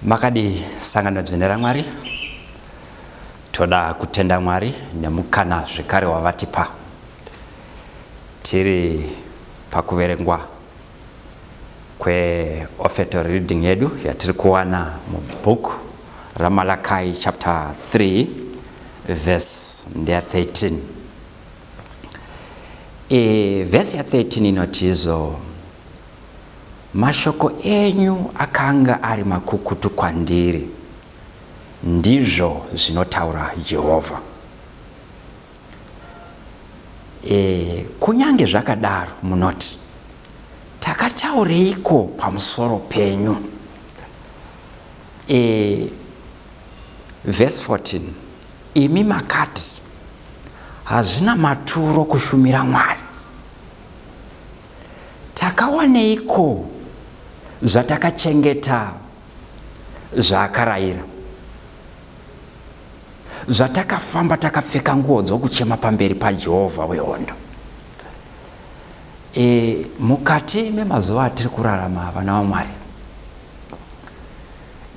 makadii sangano dzvene ramwari toda kutenda mwari nemukana zvekare wavatipa tiri pakuverengwa kweofetal reading yedu yatiri kuwana mubook ramalakai chapter 3 verse ndeya 13 e, vhesi ya 13 inoti izvo mashoko enyu akanga ari makukutu kwandiri ndizvo zvinotaura jehovha E, kunyange zvakadaro munoti takataureiko pamusoro penyu e, vhesi 14 imi makati hazvina maturo kushumira mwari takawaneiko zvatakachengeta zvaakarayira zvatakafamba takapfeka nguo dzokuchema pamberi pajehovha wehondo e, mukati memazuva atiri kurarama vana vamwari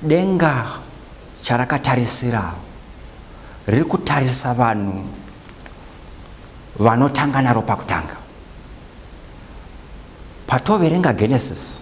denga charakatarisira riri kutarisa vanhu vanotanga naro pakutanga patoverenga genesis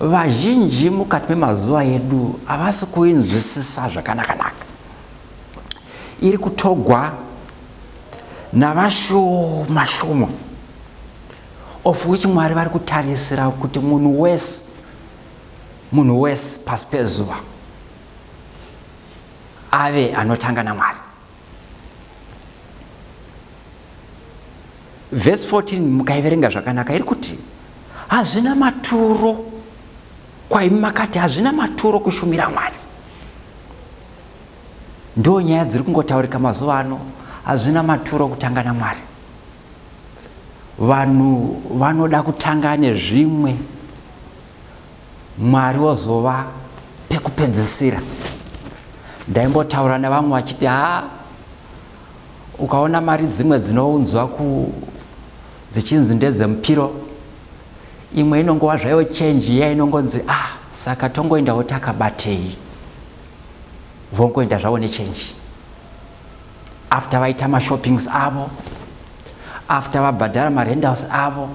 vazhinji mukati memazuva edu havasi kuinzwisisa zvakanakanaka iri kutogwa navashoma shoma of which mwari vari kutarisira kuti munhu wese munhu wese pasi pezuva ave anotanga namwari vhesi 14 mukaiverenga zvakanaka iri kuti hazvina maturo kwaimi makati hazvina maturo kushumira mwari ndo nyaya dziri kungotaurika mazuva ano hazvina maturo kutanga namwari vanhu vanoda kutanga nezvimwe Mwari wozova pekupedzisira. Ndaimbotaura nevamwe vachiti haa ukaona mari dzimwe dzinounzwa ku dzichinzi ndedzemupiro imwe inongova zvayo change iya inongonzi ah saka tongoendawo takabatei vongoenda zvavo nechange after vaita mashoppings avo after vabhadhara marendals avo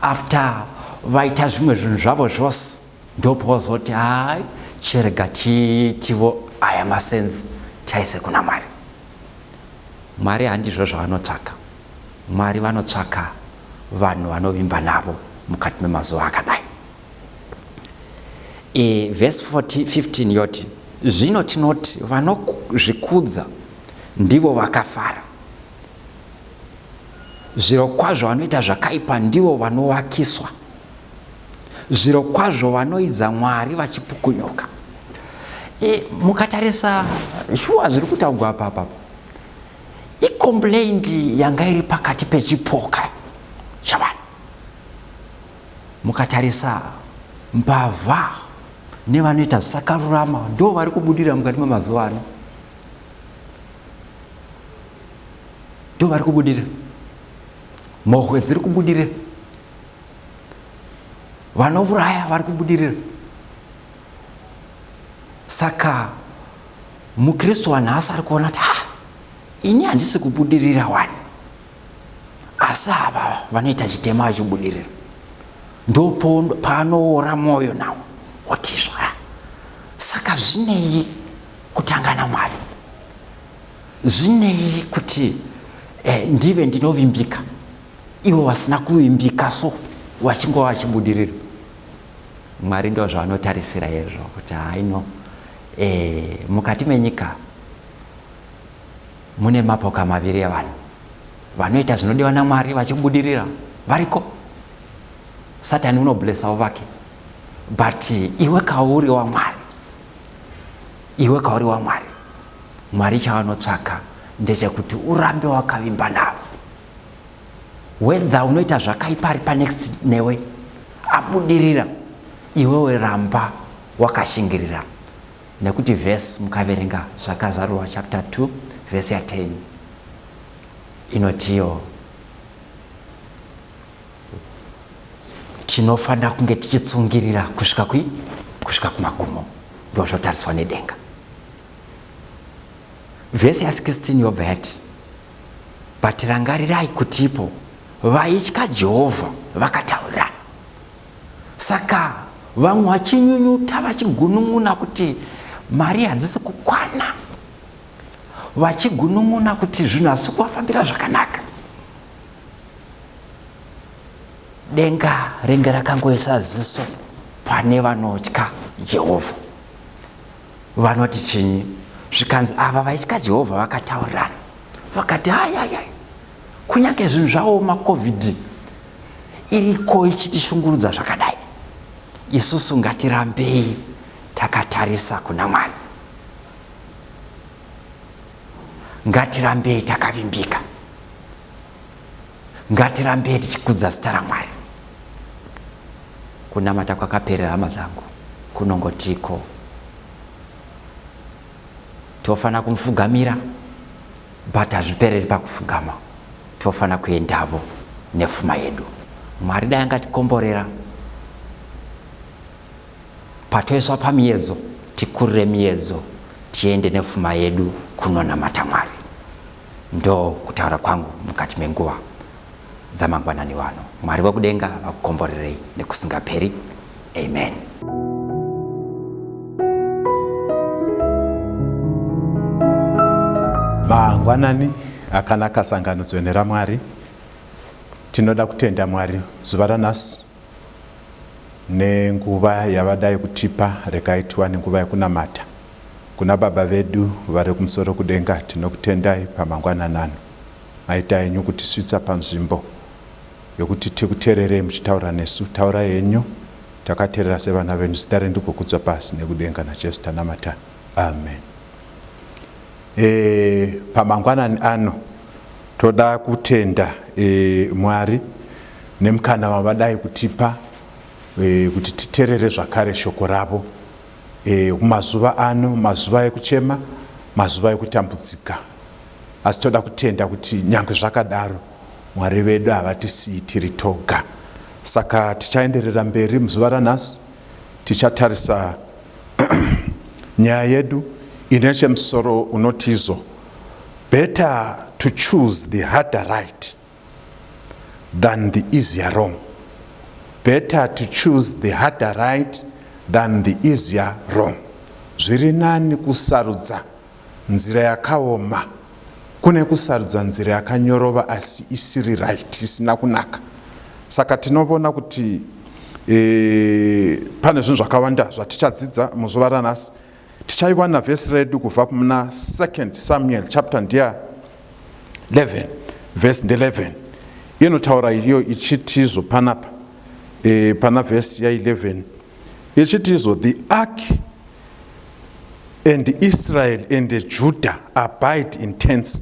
after vaita zvimwe zvinhu zvavo zvose ndopozoti hai chirega tiitivo aya masenzi taise kuna mwari mwari handizvo zvavanotsvaka mwari vanotsvaka vanhu vanovimba navo mukati memazuva akadai e, vhesi 15 yoti zvino tinoti vanozvikudza ndivo vakafara Zvirokwazvo vanoita zvakaipa ndivo vanovakiswa. Zvirokwazvo vanoidza Mwari vachipukunyuka. E, mukatarisa shuwa zviri kutaugwa apa apa ikomplaindi yanga iri pakati pechipoka chavanhu mukatarisa mbavha nevanoita zvisakarurama ndo vari kubudira mukati memazuva ano ndo vari kubudira mhohwe dziri kubudira vanovuraya vari kubudirira saka mukristu wanhasi ari kuona kuti ha ini handisi kubudirira wani asi ava vanoita chitema vachibudirira ndo paanoora mwoyo nawo otizva saka zvinei kutanga namwari zvinei kuti eh, ndive ndinovimbika ivo vasina kuvimbika so vachingova vachibudirira mwari ndo zvavanotarisira hezvo kuti haino eh, mukati menyika mune mapoka maviri evanhu vanoita zvinodiwa namwari vachibudirira variko satani unoblessawo vake but iwe kauri wamwari iwe kauri wamwari mwari chavanotsvaka ndechekuti urambe wakavimba navo wedha unoita zvakaipa ari panext newe abudirira iwewe ramba wakashingirira nekuti vhesi mukaverenga zvakazarurwa chapter 2 vhesi ya 10 inotiyo tinofanira kunge tichitsungirira kusvika kui kusvika kumagumo ndo zvotariswa nedenga vhesi ya 16 yobva yati but rangarirai kuti ipo vaitya jehovha vakataurirana saka vamwe vachinyunyuta vachigunun'una kuti mari hadzisi kukwana vachigunun'una kuti zvinhu hazisi kuvafambira zvakanaka denga renge rakangoisa ziso pane vanotya jehovha vanoti chinyi zvikanzi ava vaitya jehovha vakataurirana vakati hayayay kunyange zvinhu zvavo macovid iriko ichitishungurudza zvakadai isusu ngatirambei takatarisa kuna mwari ngatirambei takavimbika ngatirambei tichikudza zita ramwari kunamata kwakaperera hama dzangu kunongotiko tofanira kumufugamira but hazvipereri pakufugama tofanira kuendavo nefuma yedu mwari dai angatikomborera patoiswa pamiyedzo tikurire miyedzo tiende nefuma yedu kunonamata mwari Ndo kutaura kwangu mukati menguva dzamangwanani wano. Mwari wekudenga vakukomborerei nekusingaperi. Amen. Mangwanani akanaka sangano dzvene raMwari. Tinoda kutenda Mwari zuva ranhasi. nenguva yavadai kutipa regai tiwane nguva yekunamata kuna baba vedu vari kumusoro kudenga tinokutendai pamangwanani ano maita henyu kutisvitsa panzvimbo yokuti tikutererei muchitaura nesu taurai henyu takaterera sevana venyu zita renyu rigokudzwa pasi nekudenga najesu tanamata amen e, pamangwanani ano toda kutenda e, mwari nemukana wavadai kutipa e, kuti titerere zvakare shoko ravo e, kumazuva ano mazuva ekuchema mazuva ekutambudzika asi toda kutenda kuti nyange zvakadaro mwari vedu havatisiyi tiri toga saka tichaenderera mberi muzuva ranhasi tichatarisa nyaya yedu ine chemusoro unotizo better to choose the harder right than the easier wrong. Better to choose the harder right than the easier wrong. Zviri nani kusarudza nzira yakaoma kune kusarudza nzira yakanyorova asi isiri right, isina kunaka. Saka tinovona kuti e, pane zvinhu zvakawanda zvatichadzidza muzuva ranhasi tichaiwana vhesi redu kubva muna 2nd samuel chapter ndeya 11 vhesi nde11 inotaura iyo ichitizvo panapa e, pana vhesi ya11 ichitizvo the ark and israel and judah abide in tents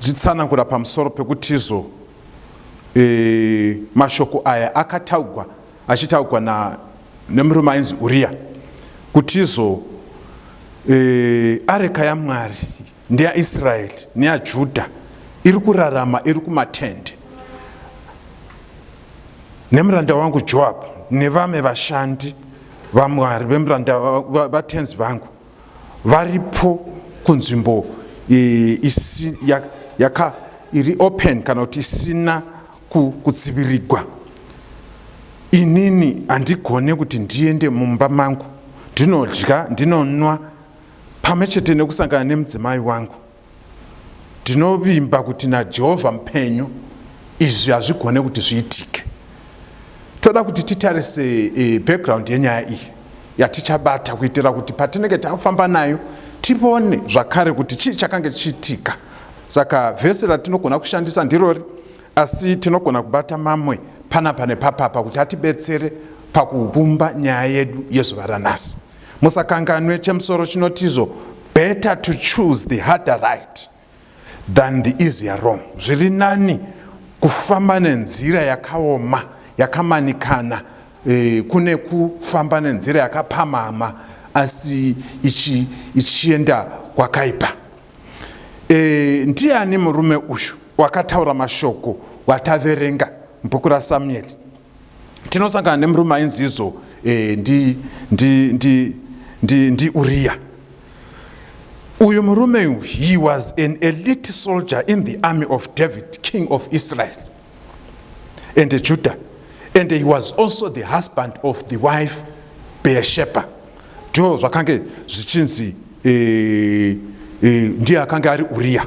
zvitsanangura pamusoro pekuti izvo e, mashoko aya akataugwa achitaugwa na nemurume ainzi uriya kuti izvo e, areka yamwari ndeyaisraeri neyajudha iri kurarama iri kumatende nemuranda wangu joabhu nevamwe vashandi vamwari vemuranda vatenzi vangu varipo kunzvimbo isi, ya, yaka iri open kana kuti isina kudzivirigwa inini handigone kuti ndiende mumba mangu ndinodya ndinonwa pamwe chete nekusangana nemudzimai wangu ndinovimba kuti najehovha mupenyu izvi hazvigone kuti zviitike toda kuti titarise e, background yenyaya iyi yatichabata kuitira kuti patinenge tafamba nayo tione zvakare kuti chii chakange chiitika saka vhesi ratinogona kushandisa ndirori asi tinogona kubata mamwe panapa nepapapa kuti atibetsere pakuvumba nyaya yedu yezuva ranhasi Musakanganwe chemusoro chinotizvo better to choose the harder right than the easier wrong. Zviri nani kufamba nenzira yakaoma yakamanikana eh, kune kufamba nenzira yakapamhama asi ichi, ichienda kwakaipa. Eh, ndiani murume uyu wakataura mashoko wataverenga mubhuku raSamueri? tinosangana nemurume ainzi izo eh, ndi, ndi, ndi, ndi, ndi uriya uyu murume uyu he was an elite soldier in the army of david king of israel and the judah and he was also the husband of the wife beersheba ndo zvakange zvichinzi eh, eh, ndiye akange ari uriya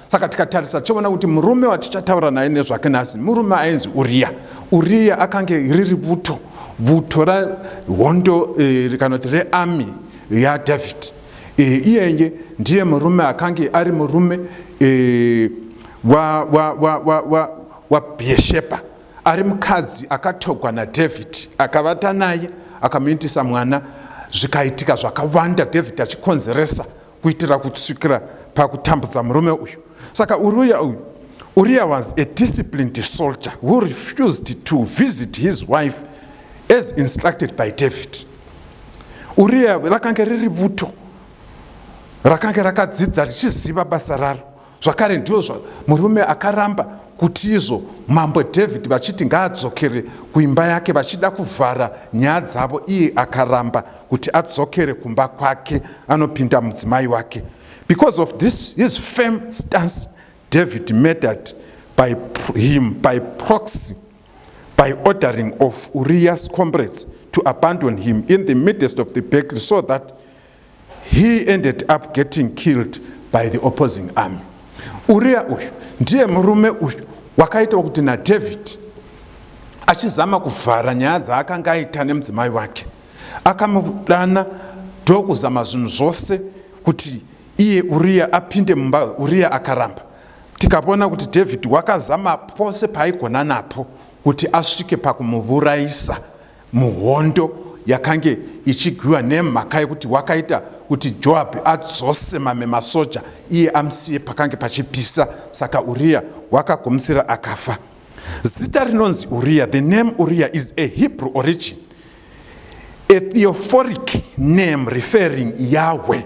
saka tikatarisa tichaona kuti murume watichataura naye nezvake nhasi murume ainzi uriya uriya akange riri buto buto rahondo eh, kana kuti rearmy yadavid eh, iyeye ndiye murume akange ari murume eh, wabhiyeshepa ari mukadzi akatogwa nadavid akavata naye akamuitisa mwana zvikaitika zvakawanda david achikonzeresa kuitira kusvikira pakutambudza murume uyu saka uriya uyu uriya was a disciplined soldier who refused to visit his wife as instructed by david uriya rakange riri vuto rakange rakadzidza richiziva basa raro Zvakare ndiozvo murume akaramba kuti izvo mambo David vachiti ngaadzokere kuimba yake vachida kuvhara nyaya dzavo iye akaramba kuti adzokere kumba kwake anopinda mudzimai wake. Because of this his firm stance David murdered by him by proxy by ordering of Uriah's comrades to abandon him in the midst of the battle so that He ended up getting killed by the opposing army. Uria uyu ndiye murume uyu wakaitawo kuti naDavid achizama kuvhara nyaya dzaakanga aita nemudzimai wake akamudana ndokuzama zvinhu zvose kuti iye uriya apinde mumba uriya akaramba tikavona kuti david wakazama pose paaigona napo kuti asvike pakumuvurayisa Muhondo yakange ichigwiwa nemhaka yekuti wakaita kuti Joabhi adzose mamwe masoja iye amusiye pakange pachipisa, saka Uriya wakagumisira akafa. Zita rinonzi Uriya, the name Uriya is a Hebrew origin, a theophoric name referring Yahweh.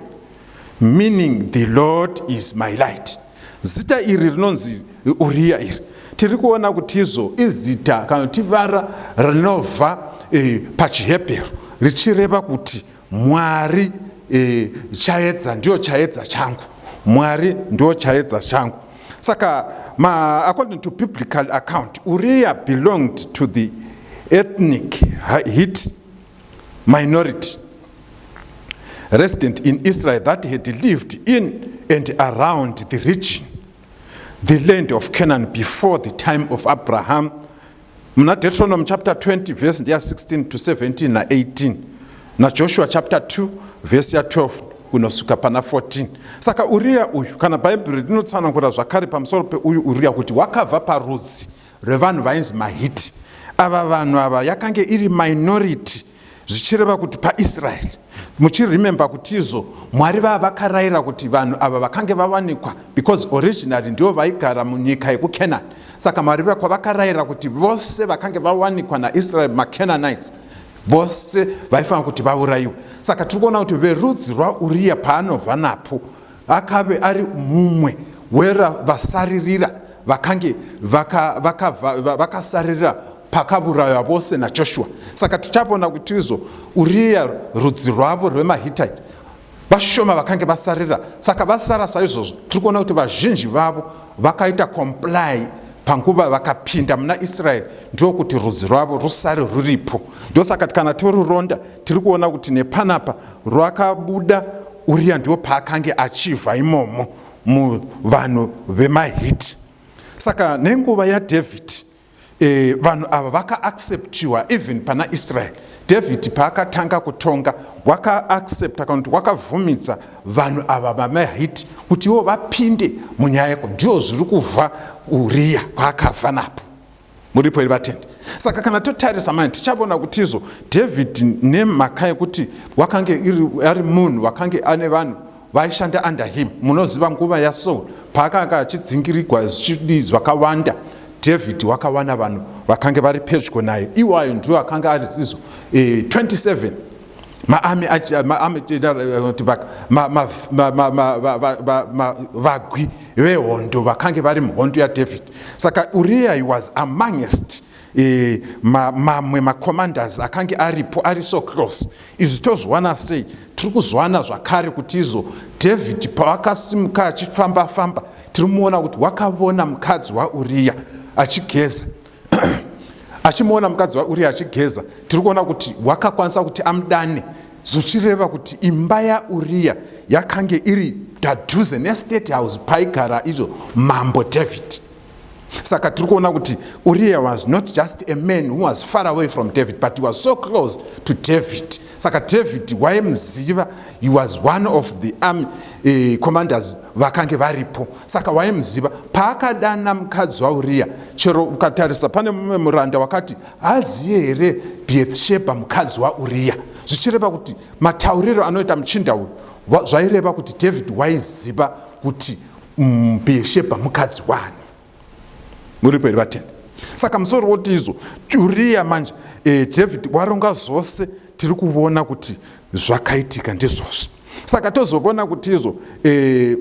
meaning the lord is my light zita iri rinonzi uriya iri tiri kuona kuti izvo izita kana kuti vara rinobva e, pachihebheru richireva kuti mwari e, chaedza ndiyo chaedza changu mwari ndiyo chaedza changu saka ma, according to biblical account uriya belonged to the ethnic hit minority resident in Israel that had lived in and around the region, the land of Canaan before the time of Abraham. Muna Deuteronomy chapter 20 verse 16 to 17 na 18 na Joshua chapter 2 verse 12 kunosvika pana 14 saka uriya uyu kana bhaibheri rinotsanangura zvakare pamusoro peuyu uriya kuti wakabva parudzi rwevanhu vainzi mahiti ava vanhu ava yakange iri minority zvichireva kuti paisraeri muchiremember kuti izvo mwari vava vakarayira kuti vanhu ava vakange vawanikwa because originally ndivo vaigara munyika yekucanani saka mwari vakwa vakarayira kuti vose vakange vawanikwa naisraeri macananites vose vaifanira kuti vaurayiwe saka tiri kuona kuti verudzi rwauriya paanobva napo Akave ari mumwe wevasaririra vakange vakasaririra vaka, vaka pakaburaywa vose naJoshua. Saka tichavona kuti izvo Uriya rudzi rwavo rwemaHitite vashoma vakange vasarira saka vasara saizvozvo tiri kuona kuti vazhinji vavo vakaita comply panguva vakapinda muna israeri ndiwo kuti rudzi rwavo rusare ruripo ndosaka kana toruronda tiri kuona kuti nepanapa rwakabuda uriya ndiwo paakange achivha imomo muvanhu vemahiti saka nenguva yadhavhidhi e, vanhu ava vakaacceptiwa even pana israeri dhavhidhi paakatanga kutonga wakaaccepta kana kuti wakavhumidza vanhu ava vamahiti kuti ivo vapinde munyaya yeko ndiyo zviri kuvha uriya kwaakavha napo muripo here vatendi saka kana totarisa mani tichavona kuti izvo david nemhaka yekuti wakange ari munhu wakange ane vanhu vaishanda under him munoziva nguva yasaul paakanga achidzingirigwa zvichidii zvakawanda david wakawana vanhu vakange vari pedyo naye iwayo ndiwo akanga ari zizo e, eh, 27 maami maami tibaka vagwi vehondo vakange vari muhondo yadavid saka uriya he was amongst e, ma, mamwe macommanders akange aripo ari so close izvi tozviwana sei tiri kuzviwana zvakare kuti izo david pavakasimuka achifamba famba tiri muona kuti wakavona mukadzi wauriya achigeza achimuona mukadzi wauriya achigeza tiri kuona kuti wakakwanisa kuti amudane zvichireva kuti imba yauriya yakange iri padhuze nestate house paigara izvo mambo david saka tiri kuona kuti uriya was not just a man who was far away from david but he was so close to david saka david waimuziva he was one of the army eh, commanders vakange varipo saka waimuziva paakadana mukadzi wauriya chero ukatarisa pane mumwe muranda wakati aziye here bethsheba mukadzi wauriya zvichireva kuti matauriro anoita muchinda uyu zvaireva kuti david waiziva kuti mm, bethsheba mukadzi wani muripo here vatende saka musori woti izo uriya manje e, david waronga zvose tiri kuvona kuti zvakaitika ndizvozvo saka tozovona kuti izo e,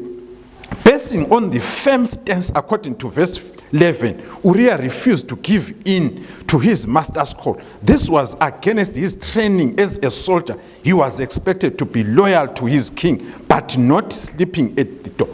basing on the firm stance according to verse 11 uriya refused to give in to his master's call this was against his training as a soldier He was expected to be loyal to his king but not sleeping at the door.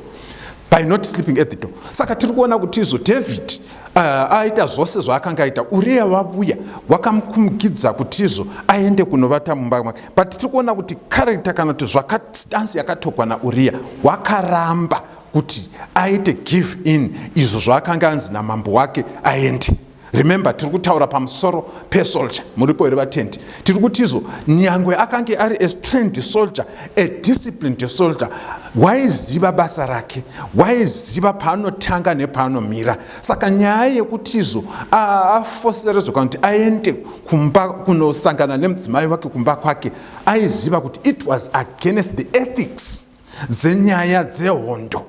By not sleeping at the door. Saka tiri kuona kuti izvo David uh, aita zvose zvaakanga aita Uriya vavuya wakamukumikidza kuti izvo aende kunovata mumba make. But tiri kuona kuti character kana kuti zvakastansi yakatokwa naUriya wakaramba kuti aite give in izvo zvaakanga anzi namambo wake aende. remember tiri kutaura pamusoro pesoldier muripo here vatendi tiri kutizvo nyangwe akange ari a strained soldier a disciplined soldier waiziva basa rake waiziva paanotanga nepaanomira saka nyaya yekutizvo afoseredzweka kuti aende kumba kunosangana nemudzimai wake kumba kwake aiziva kuti it was against the ethics dzenyaya dzehondo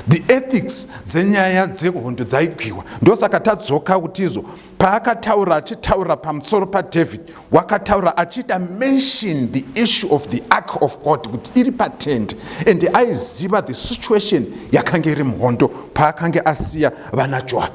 the ethics dzenyaya dzehondo dzaigwiwa ndosaka tadzoka kutizo paakataura achitaura pamusoro padavid wakataura achiita mention the issue of the ark of god kuti iri patende and aiziva the situation yakange iri muhondo paakange asiya vana joab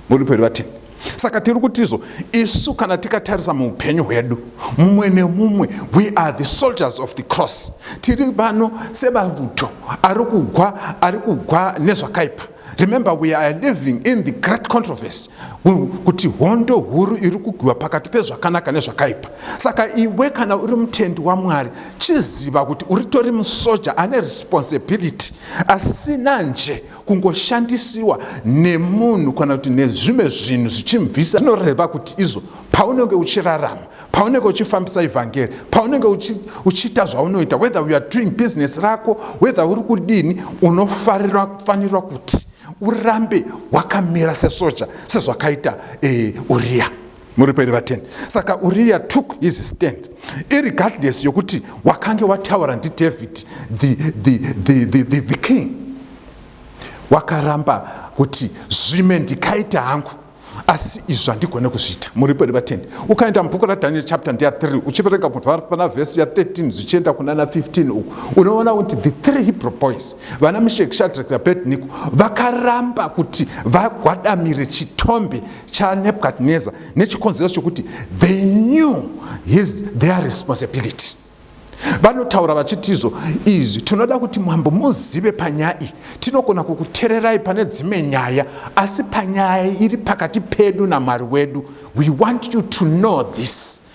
muripo here vatini saka tiri kutizvo isu kana tikatarisa muupenyu hwedu mumwe nemumwe we are the soldiers of the cross tiri vano sebavuto ari kugwa ari kugwa nezvakaipa remember we are living in the great controversy kuti hondo huru iri kugwiwa pakati pezvakanaka nezvakaipa saka iwe kana uri mutendi wamwari chiziva kuti uritori musoja ane responsibility asina nje kungoshandisiwa nemunhu kana kuti nezvimwe zvinhu zvichimubvisa zvinoreva kuti izvo paunenge uchirarama paunenge uchifambisa evhangeri paunenge uchiita zvaunoita whether uare doing business rako whether uri kudini unofarira kufanirwa kuti urambe wakamira sesoja sezvakaita e, uriya muripo here vateni saka uriya took his stand irregardless yokuti wakange wataura ndidavid the, the, the, the, the, the king wakaramba kuti zvime ndikaita hangu asi izvi zvandigone kuzviita muripo here vateni ukaenda mubhuku radaniel chapter ndeya 3 uchivereka kubva pana vhesi ya 13 zvichienda kunana 15 uku unoona kuti the three hebrew boys vana mishek shadrak nabednico vakaramba kuti vagwadamire chitombe chanebukadnezar nechikonzero chokuti they knew his their responsibility vanotaura vachitizvo izvi tinoda kuti mambo muzive panyaya iyi tinogona kukutererai pane dzimwe nyaya asi panyaya iri pakati pedu namwari wedu we want you to know this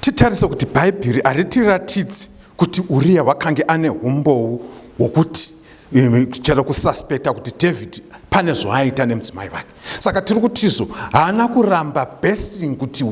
Titarise kuti Bhaibheri haritiratidzi kuti Uriya wakange ane humbowo hwokuti eh, chero kusaspekta kuti David pane zvaaita nemudzimai vake saka tiri kutizo haana kuramba basing kuti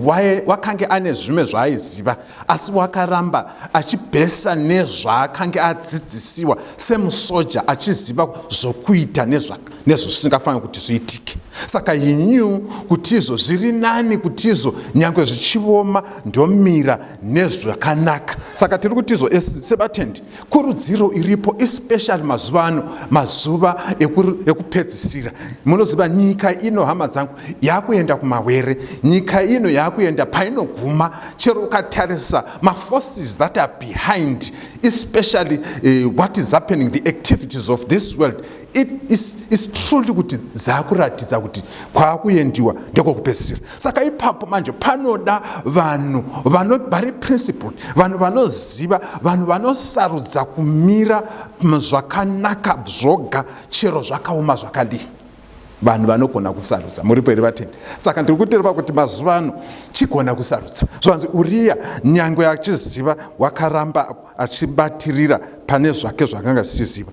wakange ane zvimwe zvaaiziva asi wakaramba achibhesa nezvaakange adzidzisiwa semusoja achiziva zvokuita nezvaka nezvo zvisingafaniri kuti zviitike saka he knew kuti izvo zviri nani kuti izvo nyange zvichioma ndomira nezvakanaka saka tiri kuti izvo sebatendi kurudziro iripo especially mazuva ano mazuva ekupedzisira munoziva nyika ino hama dzangu yakuenda kumawere nyika ino yakuenda painoguma chero ukatarisa maforces that are behind especially uh, what is happening the activities of this world It is, is truly kuti dzakuratidza kuti kwakuendiwa ndekwokupedzisira saka ipapo manje panoda vanhu vano vari principled vanhu vanoziva vanhu vanosarudza kumira zvakanaka zvoga chero zvakaoma zvakadii vanhu vanogona kusarudza muripo here vatendi saka ndiri kutireva kuti mazuva ano chigona kusarudza zvanzi uriya nyange achiziva wakaramba achibatirira pane zvake zvakanga zisiziva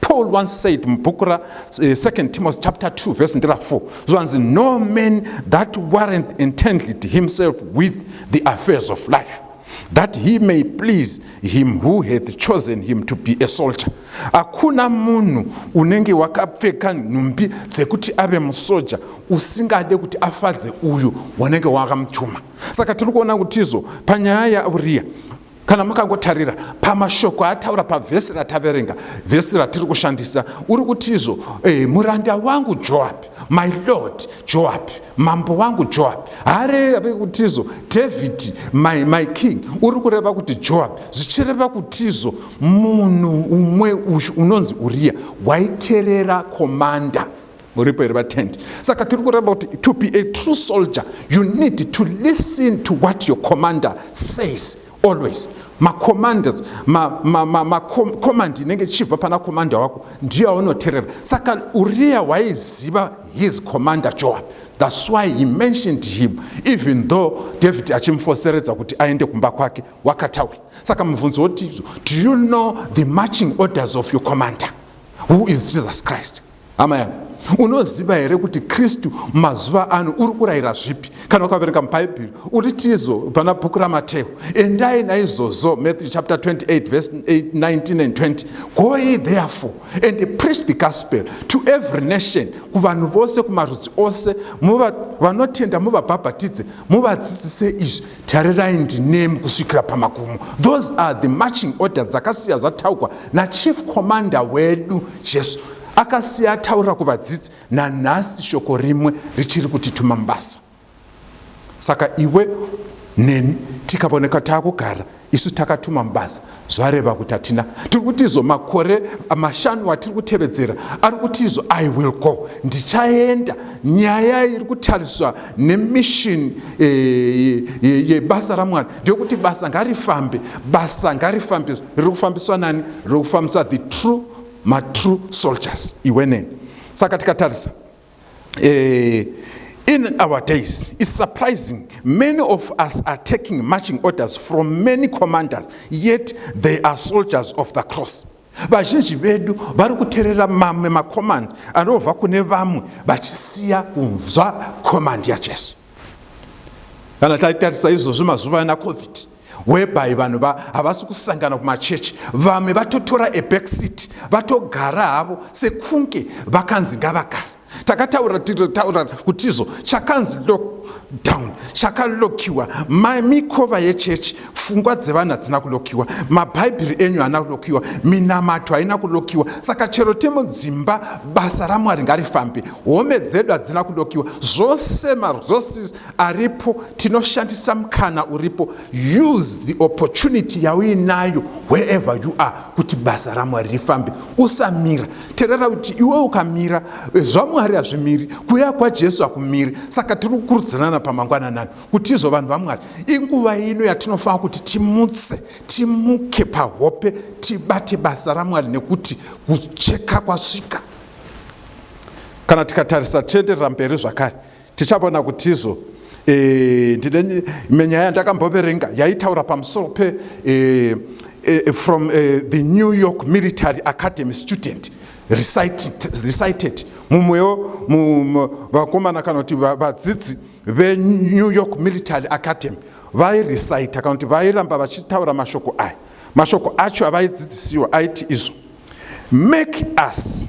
Paul once said mubhuku ra eh, second uh, Timothy chapter 2 verse ndira 4 zvanzi no man that warrant entangled himself with the affairs of life that he may please him who hath chosen him to be a soldier hakuna munhu unenge wakapfeka nhumbi dzekuti ave musoja usingade kuti afadze uyu wanenge wakamutuma saka tiri kuona kuti izvo panyaya yauriya Kana makangotarira pamashoko ataura pavhesi rataverenga, vhesi ratiri kushandisa, uri kutizvo eh, muranda wangu Joabhi, my lord Joabhi, mambo wangu Joabhi, haareve kutizvo David, my, my king, uri kureva kuti Joabhi, zvichireva kutizvo munhu umwe uyu unonzi Uriya waiterera komanda. muripo here vatendi saka tiri kuramba kuti to be a true soldier you need to listen to what your commander says always macommanders macommand inenge ichibva pana commander wako ndiyo aunoterera saka uriya waiziva his commander joab thats why he mentioned him even though david achimufoseredza kuti aende kumba kwake wakataura saka mubvunzo woti do you know the marching orders of your commander who is jesus christ hama yangu unoziva here kuti kristu mazuva ano uri kurayira zvipi kana ukaverenga mubhaibheri uri tizo pana bhuku ramateo endai naizvozvo matthew chapter 28 verse 19 and 20 go ye therefore and preach the gospel to every nation kuvanhu vose kumarudzi ose vanotenda muvabhabhatidze muvadzidzise izvi Tarirai ndinemi kusvikira pamagumo. Those are the marching order dzakasiya zvataukwa nachief commander wedu Jesu. Akasiya ataurira kuvadzidzi nanhasi shoko rimwe richiri kutituma mubasa. Saka iwe neni tikavoneka takugara isu takatuma mubasa zvareva kuti hatina tiri kuti izvo makore mashanu atiri kutevedzera ari kuti izvo i will go ndichaenda nyaya iri kutariswa nemishini eh, yebasa ramwari ndeyokuti basa ngarifambe basa ngarifambe riri kufambiswa nani riri kufambiswa the true matrue soldiers iweneni saka tikatarisa eh, in our days is surprising many of us are taking marching orders from many commanders yet they are soldiers of the cross vazhinji vedu vari kuterera mamwe makomandi anobva kune vamwe vachisiya kunzwa komandi yajesu kana taitarisa izvozvi mazuva ana covid whereby vanhu va havasi kusangana kumachechi vamwe vatotora a back seat vatogara havo sekunge vakanzi ngavagara takataura titaura kutizo chakanzi lockdown chakalokiwa mikova yechechi fungwa dzevanhu hadzina kulokiwa mabhaibheri enyu haana kulokiwa minamato haina kulokiwa saka chero temo dzimba basa ramwari ngarifambe home dzedu hadzina kulokiwa zvose marosis aripo tinoshandisa mukana uripo use the opportunity yauinayo wherever you are kuti basa ramwari rifambe usamira terera kuti iwe ukamira eh, zvamwari hazvimiri kuya kwajesu hakumiri saka tiri kukurudzanana pamangwananani kuti izvo vanhu vamwari inguva ino yatinofanira kuti timutse timuke pahope tibate basa ramwari nekuti kucheka kwasvika kana tikatarisa tienderera mberi zvakare Tichavona kutizvo eh, ndine menyaya yandakamboverenga yaitaura pamusoro pe eh, eh, from eh, the New York Military Academy student recited, recited. mumwewo vakomana kana kuti vadzidzi veNew York Military Academy vairecita kana kuti vairamba vachitaura mashoko aya mashoko acho avaidzidzisiwa aiti izvo make us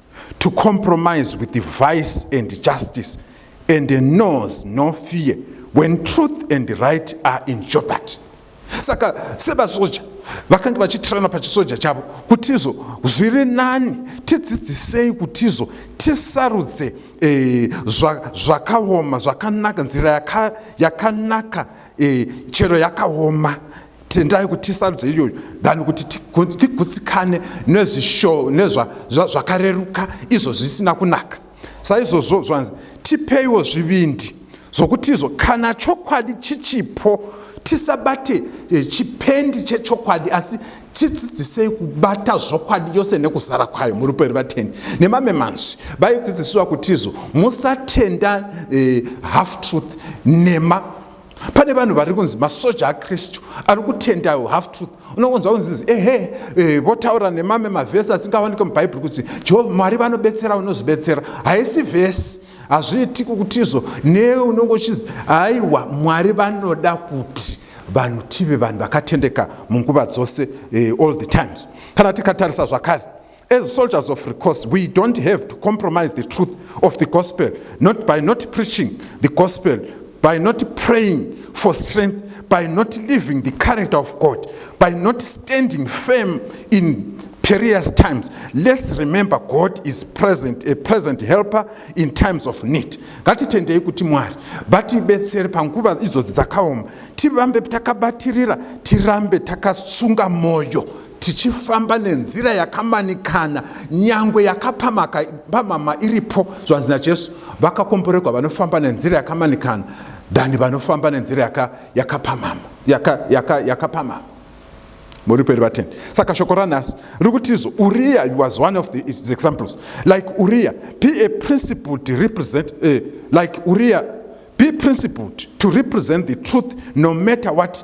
to compromise with the vice and justice and knows no fear when truth and right are in jeopardy saka sevasoja vakange vachitirana pachisoja chavo kuti izo zviri nani tidzidzisei kuti izo tisarudze e, zvakaoma zvakanaka nzira yakanaka e, chero yakaoma tendai kuti tisarudze iyoyo than kuti tigutsikane nezvakareruka izvo zvisina kunaka saizvozvo zvanzi tipeiwo zvivindi zvokuti izvo kana chokwadi chichipo tisabate eh, chipendi chechokwadi asi tidzidzisei kubata zvokwadi yose nekuzara kwayo muri peri vatendi nemamwe manzwi vaidzidzisiwa kutizo musatenda eh, half truth nema pane vanhu vari kunzi masoja akristu ari kutenda half truth unokunzwa kunzizi ehe eh, votaura nemame mavhesi asingawanike mubhaibheri kuti jehovha mwari vanobetsera unozvibetsera haisi vhesi hazviiti kukutizvo newe unonge uchizi haiwa mwari vanoda kuti vanhu tive vanhu vakatendeka munguva dzose eh, all the times kana tikatarisa zvakare As soldiers of recourse, we don't have to compromise the truth of the gospel, not by not preaching the gospel, by not praying for strength, by not living the character of God, by not standing firm in perilous times. Let's remember God is present, a present helper in times of need. Ngatitendei kuti Mwari vatibetsere panguva idzo dzakaoma, tirambe takabatirira, tirambe takasunga moyo. tichifamba nenzira yakamanikana nyangwe yakapamaka pamama iripo zvanzi najesu vakakomboregwa vanofamba nenzira yakamanikana than vanofamba nenzira yakapamama yaka, yaka, yaka muri peri vaten saka shoko ranhasi riri kutizo uriya was one of the examples like uriya be a principled represent uh, like uriya be principled to represent the truth no matter what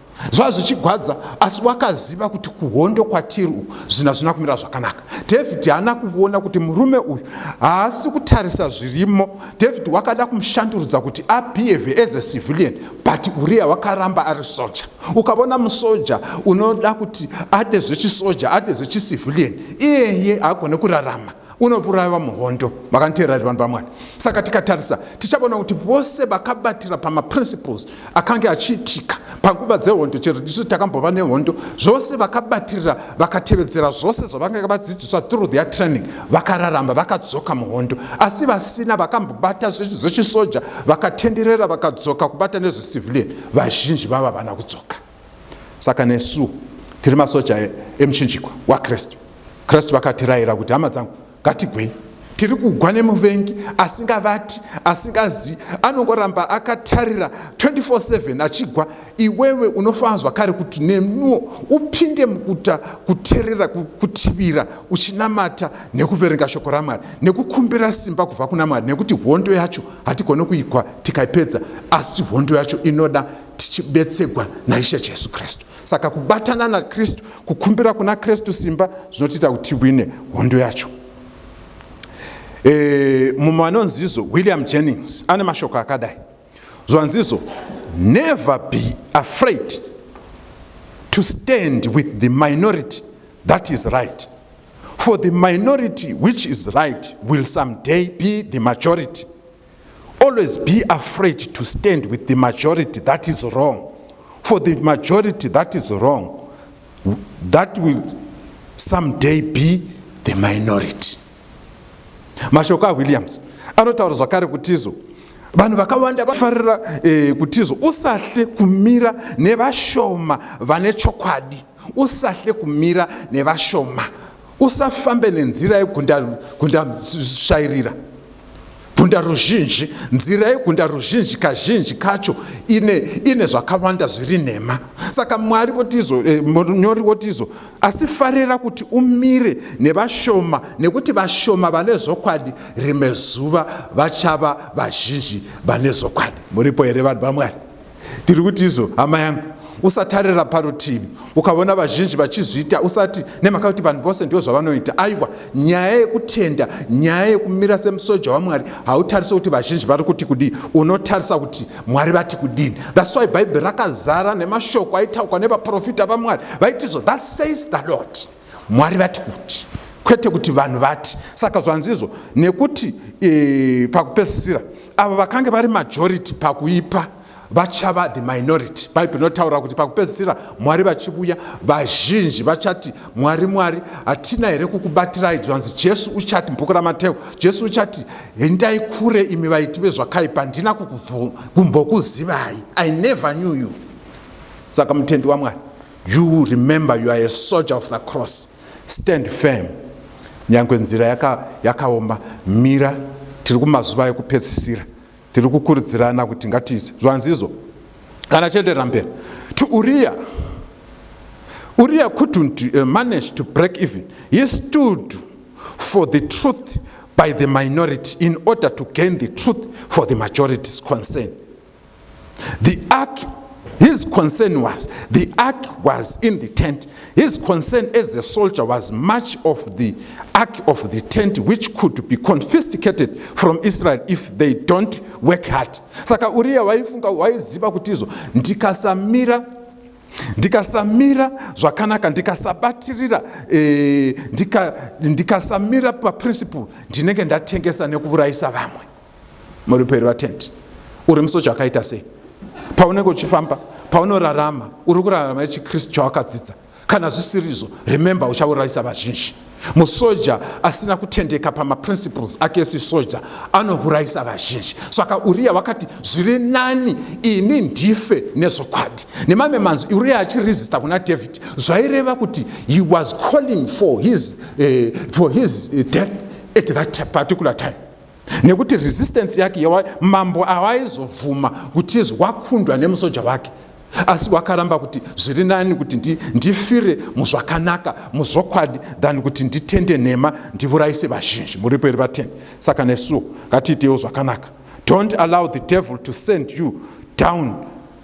zvava zvichigwadza asi wakaziva kuti kuhondo kwatiri uku zvinhu hazvina kumira zvakanaka david haana kuona kuti murume uyu haasi kutarisa zvirimo david wakada kumushandurudza kuti abehave as a civilian but uriya wakaramba ari soja ukavona musoja unoda kuti ade zvechisoja ade zvechicivilian iyeye haagone kurarama unouraiwa muhondo makaniteerera zvevanhu vamwari saka tikatarisa tichaona kuti vose vakabatira pamaprinciples akange achiitika panguva dzehondo chero tisu takambova nehondo zvose vakabatirira vakatevedzera zvose zvavange vadzidziswa through their training vakararamba vakadzoka muhondo asi vasina vakambobata zvinhu zvechisoja vakatenderera vakadzoka kubata nezvecivilian vazhinji vava vana kudzoka saka nesu tiri masoja emuchinjikwa wakristu kristu vakatirayira kuti hama dzangu ngatigwei tiri kugwa nemuvengi asingavati asingazi anongoramba akatarira 24/7 achigwa iwewe unofanira zvakare kuti nenuwo upinde mukuta kuterera kutivira uchinamata nekuverenga shoko ramwari nekukumbira simba kubva kuna mwari nekuti hondo yacho hatigone kuigwa tikaipedza asi hondo yacho inoda tichibetsegwa naishe jesu kristu saka kubatana nakristu kukumbira kuna kristu simba zvinotiita kuti tiwine hondo yacho e, mumwe anonzizo william jennings ane mashoko akadai zvanzizo never be afraid to stand with the minority that is right for the minority which is right will someday be the majority always be afraid to stand with the majority that is wrong for the majority that is wrong that will someday be the minority mashoko awilliams anotaura zvakare kutizo vanhu vakawanda vafarira eh, kutizo usahle kumira nevashoma vane chokwadi usahle kumira nevashoma Usafambe nenzira yegundasvairira gunda ruzhinji. Nzira yegunda ruzhinji kazhinji kacho ine, ine zvakawanda zviri nhema. Saka Mwari votizo, eh, munyori votizo, asi farira kuti umire nevashoma, nekuti vashoma vane zvokwadi rimwe zuva vachava vazhinji vane zvokwadi. Muripo here vanhu vaMwari? Tiri kuti izvo hama yangu usatarira parutivi ukaona vazhinji vachizviita usati nemhaka kuti vanhu vose ndivo zvavanoita aiwa nyaya yekutenda nyaya yekumira semusoja wamwari hautarise kuti vazhinji vari kuti kudii unotarisa kuti mwari vati kudini thats why bhaibheri rakazara nemashoko aitaukwa nevaprofita vamwari vaitizvo that says the lord Mwari vati kuti, kwete kuti vanhu vati. Saka zvanzizvo, nekuti e, pakupesisira avo vakange vari majority pakuipa vachava the minority bhaibheri rinotaura kuti pakupedzisira mwari vachivuya vazhinji vachati mwari mwari hatina here kukubatirai zvanzi jesu uchati mubhuku ramateu jesu uchati endai kure imi vaiti vezvakaipa handina kukumbokuzivai i never knew you saka mutendi wamwari You remember you are a soldier of the cross. Stand firm. Nyangwe nzira yaka, yakaoma mira tiri kumazuva ekupedzisira tiri kukurudzirana kuti ngatiite zvanzizo kana chienderera mberi to uriya uriya couldn't uh, manage to break even he stood for the truth by the minority in order to gain the truth for the majority's concern the ark his concern was the ark was in the tent his concern as a soldier was much of the ark of the tent which could be confiscated from israel if they don't work hard saka uriya waifunga waiziva kuti izvo ndikasamira ndikasamira zvakanaka ndikasabatirira eh, ndikasamira paprinciple ndinenge ndatengesa nekuurayisa vamwe muri peri vatendi uri musoja akaita sei paunenge uchifamba paunorarama uri kurarama nechikristu chawakadzidza kana zvisiri izvo remember uchaurayisa vazhinji musoja asina kutendeka pamaprinciples ake esisoja anourayisa vazhinji saka uriya wakati zviri nani ini ndife nezvokwadi nemamwe manzwi uriya achiresista kuna david zvaireva kuti he was calling for his, uh, for his eh, death at that particular time nekuti resistance yake yawa mambo awaizobvuma kuti wakundwa nemusoja wake asi wakaramba kuti zviri nani kuti ndi, ndifire muzvakanaka muzvokwadi than kuti nditende nhema ndivurayise vazhinji muripo iri vateni saka nesuwo ngatiitewo zvakanaka don't allow the devil to send you down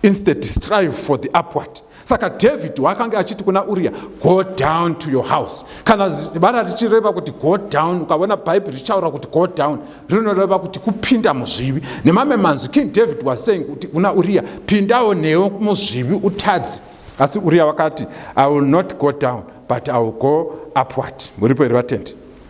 Instead strive for the upward. Saka David wakange achiti kuna Uria, go down to your house. Kana vara richireva kuti go down, ukavona Bible richaura kuti go down, rinoreva kuti kupinda muzvivi. Nemame manzi, King David was saying kuti kuna Uria, pindawo neo muzvivi utadzi. Asi Uria wakati, I will not go down, but I will go upward. Muripo iri vatendi.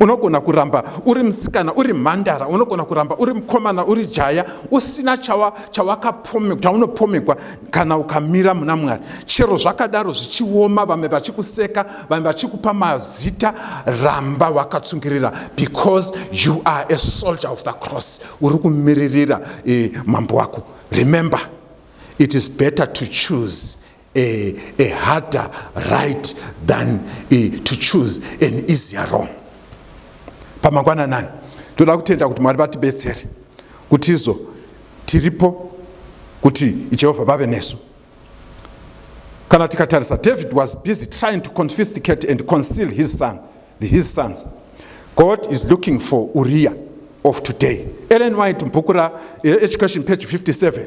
unogona kuramba uri musikana uri mhandara unogona kuramba uri mukomana uri jaya usina chawakapomekwaunopomekwa kana ukamira muna mwari chero zvakadaro zvichioma vamwe vachikuseka vamwe vachikupa mazita ramba wakatsungirira because you are a soldier of the cross uri kumiririra eh, mambo wako remember it is better to choose a, a harder right than a, to choose an easier wrong pamangwananani toda kutenda kuti mwari vatibetsere kuti izo tiripo kuti jehovha vave nesu kana tikatarisa david was busy trying to confisticate and conceal his son the, his sons god is looking for uriya of today ellen white mbhuku raeducation eh, page 57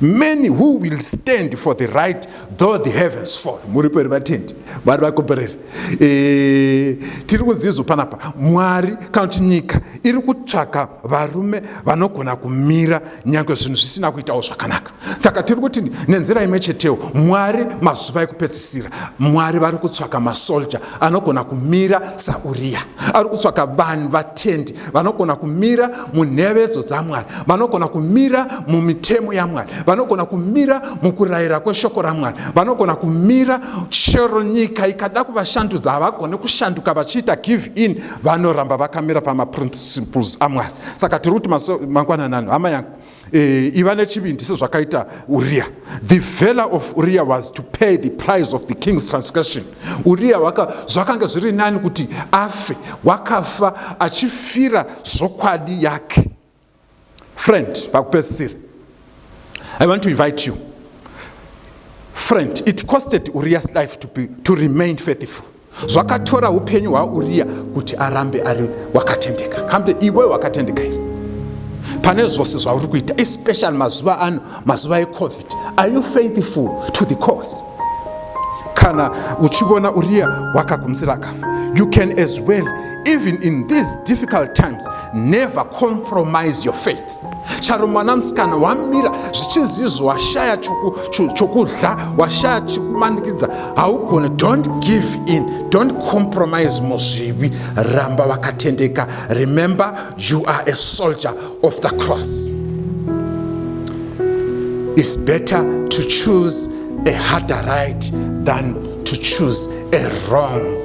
many who will stand for the right though the heavens fall muri peri vatendi vari vakombereri eh, tiri kunzizvo panapa mwari kana kuti nyika iri kutsvaka varume vanogona kumira nyange zvinhu zvisina kuitawo zvakanaka saka tiri kuti nenzira imwe chetewo mwari mazuva ekupedzisira mwari vari kutsvaka masolja anogona kumira sauriya ari kutsvaka vanhu vatendi vanogona kumira munhevedzo dzamwari vanogona kumira mumitemo yamwari vanogona kumira mukurayira kweshoko ramwari vanogona kumira chero nyika ikada kuvashandudza havagone kushanduka vachiita give in vanoramba vakamira pamaprinciples amwari saka tiri kuti mangwananano hama yangu Eh, iva nechivindi sezvakaita uriya the valor of uriya was to pay the price of the king's transgression uriya zvakange zviri nani kuti afe wakafa achifira zvokwadi yake friend pakupedzisira i want to invite you friend it costed uriya's life to, be, to remain faithful Zvakatora hupenyu hwaUriya kuti arambe ari wakatendeka. Kamde iwe wakatendeka here? Pane zvose zvauri kuita, especially mazuva ano, mazuva eCovid. Are you faithful to the cause? Kana uchivona Uriya wakagumisira akafa, you can as well, even in these difficult times, never compromise your faith. charo mwana musikana wamira zvichinzi izvo washaya chokudya washaya chikumanikidza haugone don't give in don't compromise muzvivi ramba vakatendeka remember you are a soldier of the cross is better to choose a harder right than to choose a wrong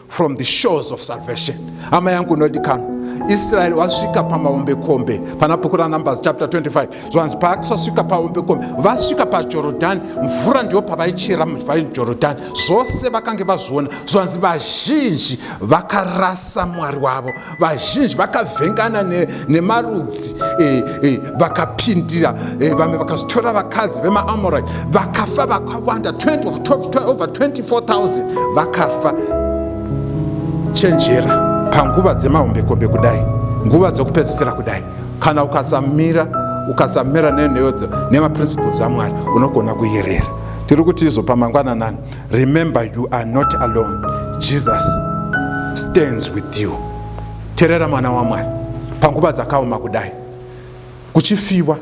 from the shores of salvation hama yangu unodikanwa israeri wasvika pamaombekombe pana bhuku ranumbers chapter 25 zvanzi paakasvika paombekombe vasvika pajorodhani mvura ndiyo pavaichera vajorodhani zvose vakange vazviona zvanzi vazhinji vakarasa mwari wavo vazhinji vakavhengana nemarudzi ne eh, eh, vakapindira e, eh, vamwe vakazotora vakadzi vemaamorai vakafa vakawanda 20, over 24000 vakafa chenjera panguva dzemahombekombe kudai nguva dzokupedzisira kudai kana ukasamira ukasamira nenheyodzo nemaprinciples amwari unogona kuyerera tiri kuti izopa mangwananani remember you are not alone jesus stands with you terera mwana wamwari panguva dzakaoma kudai kuchifiwa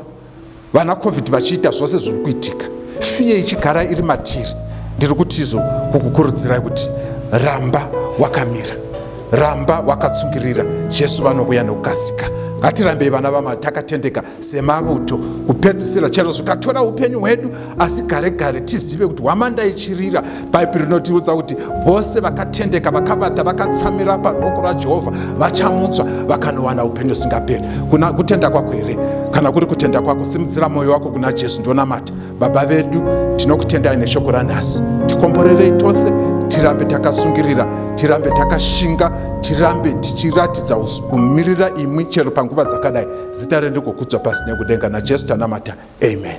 vana covid vachiita zvose zviri kuitika fiye ichigara iri matiri ndiri kutizo kukukurudzirai kuti ramba wakamira ramba wakatsungirira jesu vanovuya nokukasika ngatirambei vana vama takatendeka semauto kupedzisira chero zvikatora upenyu hwedu asi gare gare tizive kuti hwamanda ichirira bhaibheri rinotiudza kuti vose vakatendeka vakavata vakatsamira paruoko rwajehovha vachamutswa vakanowana upenyu husingaperi kuna kutenda kwako here kana kuri kutenda kwako simudzira mwoyo wako kuna jesu ndionamata baba vedu tinokutendai neshoko ranhasi tikomborerei tose tirambe takasungirira tirambe takashinga tirambe tichiratidza kumirira imwi chero panguva dzakadai Zita rendiko kudzwa pasi nekudenga naJesu tanamata amen.